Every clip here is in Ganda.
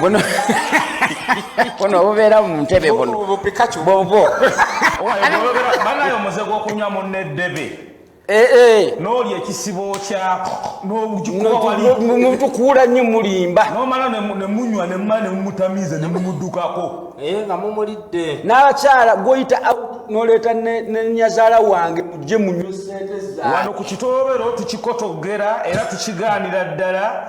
buno buno obubeera mu ntebe buno bwobwo banaye omuze gwokunywa munne ddebe eh, eh. noli ekisibo kyako nomutukuula nnyo mulimba nomala nemunywa nemumala nemumutamiiza nemumudukako eh, nga mumulidde n'abakyala gwoyita noleeta nenyazaala wange mujje munywa sente za wano ku kitobero tukikotogera era tukigaanira ddala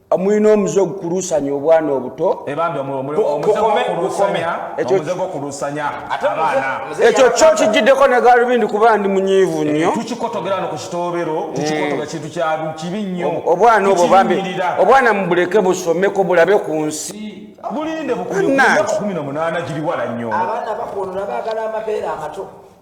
mulina omuze ogukuluusanya obwana obuto ekyo kyo kijiddeko ne galubindi kuba ndi munyiivu eh, nnyo obwana obwo bambi obwana mubuleke busomeko bulabe ku nsi bulinde bukumi na munaana giri wala nnyo abaana bakuono nabagala amabeere amato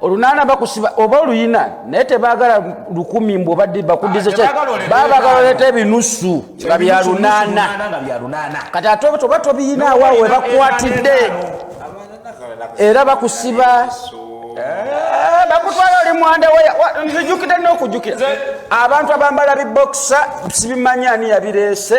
olunaana bakusiba oba oluyina naye tebagala lukumi mbu obadde bakudize babagala oleeta ebinusu nga bya lunaana kati ate oba tobiyinaawo awo webakwatidde era bakusiba eh, bakutwala oli mwanda nzijukidde nokujukira abantu abambala bibokisa sibimanya ani yabireese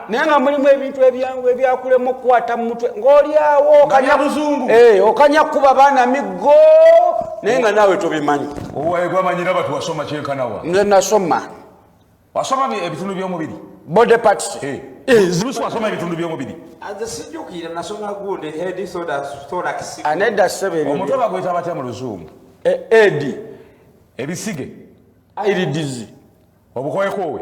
naye nga mulimu ebintu ebyangu ebyakulemu okukwata mu mutwe ng'olyawo eh, okanya kuba baana miggo naye nga naawe tobimanyi nze nasoma wasoma ebitundu by'omubiri body parts eh. Eh, zibusi wasoma ebitundu by'omubiri anedda sebeomutwe bagweta batya mu luzungu edi ebisige airidizi obukoekoowe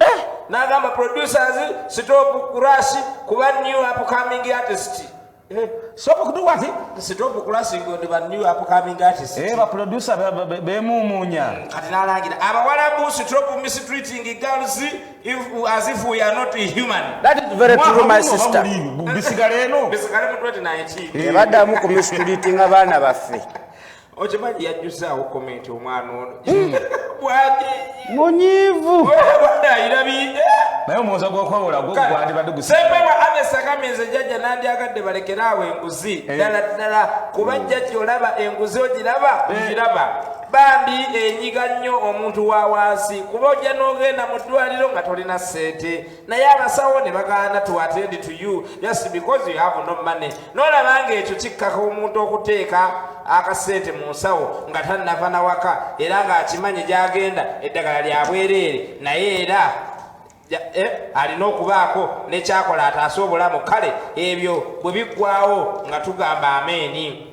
eh, nagamba producers stop crash kuba new upcoming artist eh, stop kudu wati stop crash ngo ndi ba new upcoming artist eh ba producer be mumunya hmm, kati nalangira abawala bu stop mistreating girls if as if we are not human that is very true my sister bisigale no bisigale mu 2019 ebadamu ku mistreating abana baffe okimanyi yajjuzaawo komenti omwana ono hmm. bwati munyiivu ayirabidde naye omuwoza gwokwewola gwogwandibadde gusempema anesagambye nze jjajja nandyagadde balekere awo enguzi eh. ddala ddala kuba hmm. jjajja olaba enguzi ogiraba eh. ogiraba bambi enyiga nnyo omuntu wa wansi kuba ojja n'ogenda mu ddwaliro nga tolina sente naye abasawo ne bagaana to attend to you just because you have no money nolaba nga ekyo kikkaka omuntu okuteeka akasente mu nsawo nga tannava nawaka era ng'akimanyi gy'agenda eddagala lya bwereere naye era eh, alina okubaako nekyakola ataase obulamu kale ebyo bwe biggwawo nga tugamba ameeni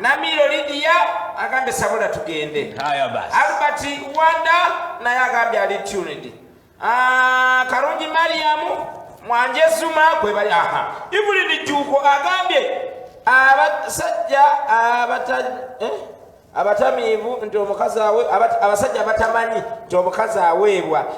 Namiiro Lidiya agambye sabula tugende. Albert Wanda naye agambye ali tuned. Ah, Karungi Mariamu Mwanje Zuma gwe bali aha. Ibulidi Juko agambye abasajja abata eh? abatamiivu nti omukazi awe abasajja abatamanyi nti omukazi aweebwa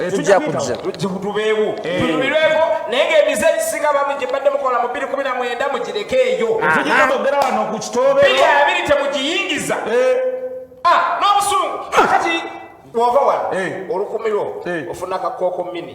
eh, tujja kujja tubeewo eh. tunyumirweko naye ngaemize egisinga bami gyebadde mukola mu biri kumi na mwenda mugireke eyo tugitogera wano ku kitoobe biri abiri temugiyingiza eh. ah, n'obusungu ah. kati wova wano olukumiro ofuna kakooko mini